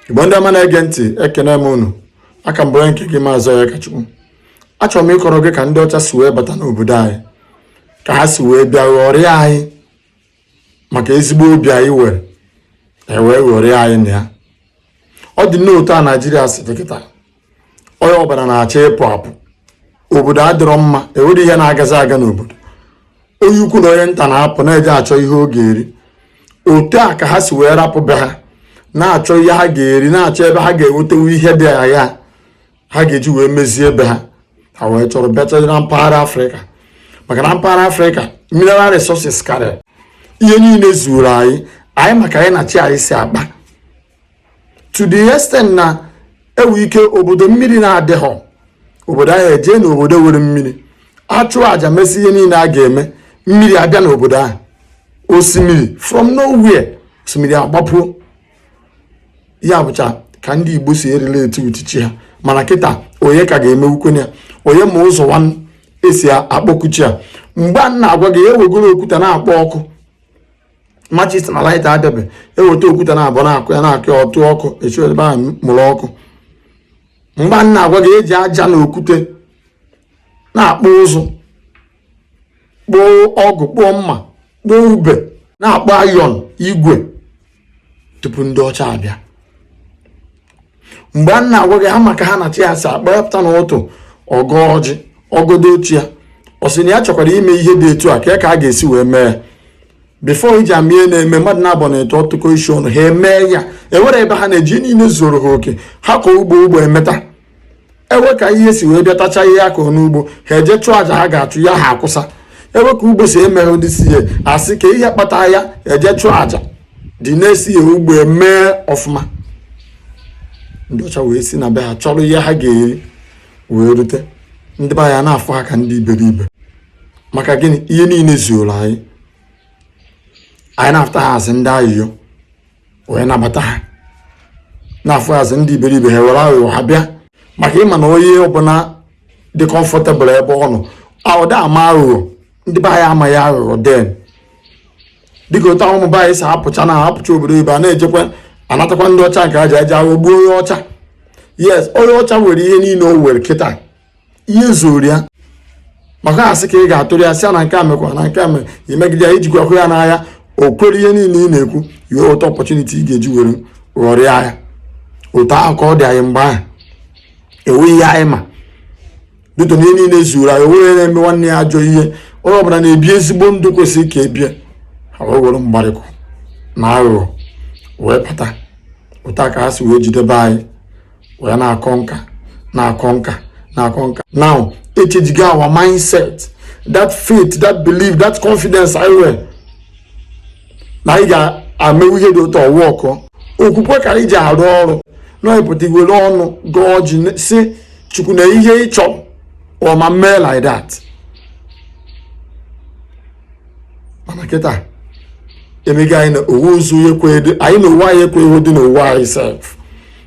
igbo ndị ọma na-ege ntị ekene m unu aka m bụ onye nke gị maazị onyekachukwu achọrọ m ịkọrọ gị ka ndị ọcha si wee bata n'obodo anyị ka ha si wee bịa ghọrịa anyị maka ezigbo obi anyị nwere ewee ghọrịa anyị na ya ọ dị n'otu a naijiria si dị kịta onye ọbụla na-achọ ịpụ apụ obodo adịrọ mma enwerọ ihe na-agazi aga n'obodo onye ukwu na onye nta na-apụ na-eje achọ ihe ọ ga-eri otu a ka ha si wee rapụ be ha na-achọ ihe ha ga-eri na-achọ ebe ha ga-enweta ihe dị agha ha ga-eji wee mezie be ha ha wee chọrọ bịacha na mpaghara afrịka maka na mpaghara afrịka mineral resources karịa ihe niile zuru anyị anyị maka anyị na chi anyị si akpa to the extent na enwe ike obodo mmiri na-adịghọ obodo ahụ ejee na obodo nwere mmiri achụọ aja mesịa ihe niile a ga-eme mmiri abịa n'obodo ahụ osimiri from nowhere osimiri agbapụọ ya bụcha ka ndị Igbo si erelate with chi ha mana kịta onye ka a ga-eme o kwenye ya onye ma ụzọ nwanne esi akpọku chi ya mgbe a m na-agwa gị ewegoro okwute na-akpọ ọkụ matches na lighter abịabe eweta okwute na abụọ na-akụ ya na-akụ ya ọ tụọ ọkụ esi ebe ahụ mụrụ ọkụ mgbe a m na-agwa gị eji aja na okwute na-akpụ ụzụ kpụọ ọgụ kpụọ mma kpụọ ube na-akpụ iron igwe tupu ndị ọcha abịa mgbe a m na-agwa gị ha ma ka ha na chi ha si akpa ya pụta na ụtụtụ ọ gọọ ọjị ọ gọdo chi ya ọ sị na ya chọkwara ime ihe dị etu a kee ka a ga-esi wee mee ya before ị ji ama ihe na-eme mmadụ na abụọ na etọ atụkọ isi ọnụ ha emee ya enwerọ ebe ha na-eje ihe niile zuoro ha oke ha kọọ ugbo ugbo emeta enwee ka ihe si wee bịa tacha ihe akụrụ n'ugbo ha eje chụọ aja ha ga-achụ ya ha akwụsa enwee ka ugbo si emere ndị si ya asị kee ihe kpata ya eje chụọ aja dị na isi ya ugbo emee ọfụma ndị ọcha wee si na be ha chọrọ ihe ha ga-eri wee rute ndị be anyị na-afụ ha ka ndị iberibe maka gịnị ihe niile zuoro anyị anyị na-afụta ha as ndị ayịyọ wee nabata ha na-afụ anyị as ndị iberibe ha were aghụghọ ha bịa maka ịma na onye ọbụla dị comfortable ebe ọ nọ ọ da ama aghụghọ ndị be anyị amaghị aghụghọ then dịka otu ahụ ụmụ be anyị si apụcha na apụcha obodo oyibo na-ejekwa anatakwa ndị ọcha nke a ja-eji aghụghọ gbuo onye ọcha yes onye ọcha nwere ihe niile o nwere kịta ihe zuru ya maka asị ka ị ga-atụrụ ya sịa na nke a mekwa na nke a mere imegide ya ijikwa hụ ya n'ahịa o kwere ihe niile ị na-ekwu i nweta opportunity ị ga-eji were ghọrịa ya otu ahụ ka ọ dị anyị mgbe ahụ enweghị ihe anyị ma due to na ihe niile zuru anyị onweghị na-eme nwanne ya ajọ ihe onye ọbụla na-ebi ezigbo ndụ kwesịrị ka ebie ha wee were mgbarịkụ na aghụghọ wee bata otu a ka ha si wee jidebe anyị wee na-akọ nka na-akọ nka na-akọ nka now echenjigo our mindset that faith that belief that confidence anyị nwere na anyị ga-emewu ihe dị otu a ọ wụ okwu okwukwe ka anyị ji arụ ọrụ na ịpụta iwere ọnụ gọọ ọjị sị chukwu na ihe ị chọrọ ọma mee like that mana kịta emego anyị na ọ wụzi anyị na onwe anyị ekweghịdị n'onwe anyị sef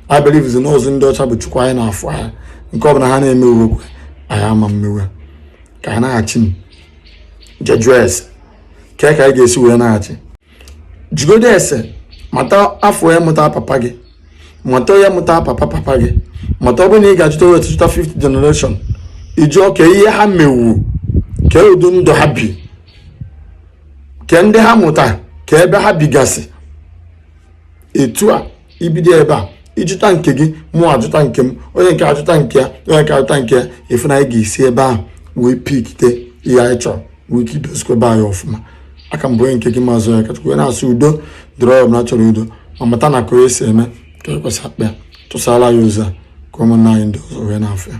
anyị believezi n'ọzi ndị ọcha bụ chukwu anyị na-afụ anya nke ọbụla ha na-eme uwe kwe anyị ama mmewe ka anyị nachi jee jụọ ese kee ka anyị ga-esi wee nachi jụgodu ese mata afa onye mụta papa gị mata onye mụta papa papa gị mata ọ bụrụ na ị ga-achụta wee chụta fifth generation ị jụọ kee ihe ha mewu kee ụdị ndụ ha bi kee ndị ha mụta kee ebe ha bigasị etu a ibido ebe a ịjụta nke gị mụ ajụta nke m onye nke a ajụta nke ya onye nke a ajụta nke ya ị fụ na anyị ga-esi ebe ahụ wee pikite ihe anyị chọrọ nwee ike idozikwa be anyị ọfụma aka m bụ onye nke gị maazị onyekachukwu wee na-asị udo dịrị onye ọbụla chọrọ udo ma mata na ka onye si eme ka ekwesị akpa ya tụsara anyị ozi a ka ụmụnna anyị ndị ọzọ wee na-afụ ya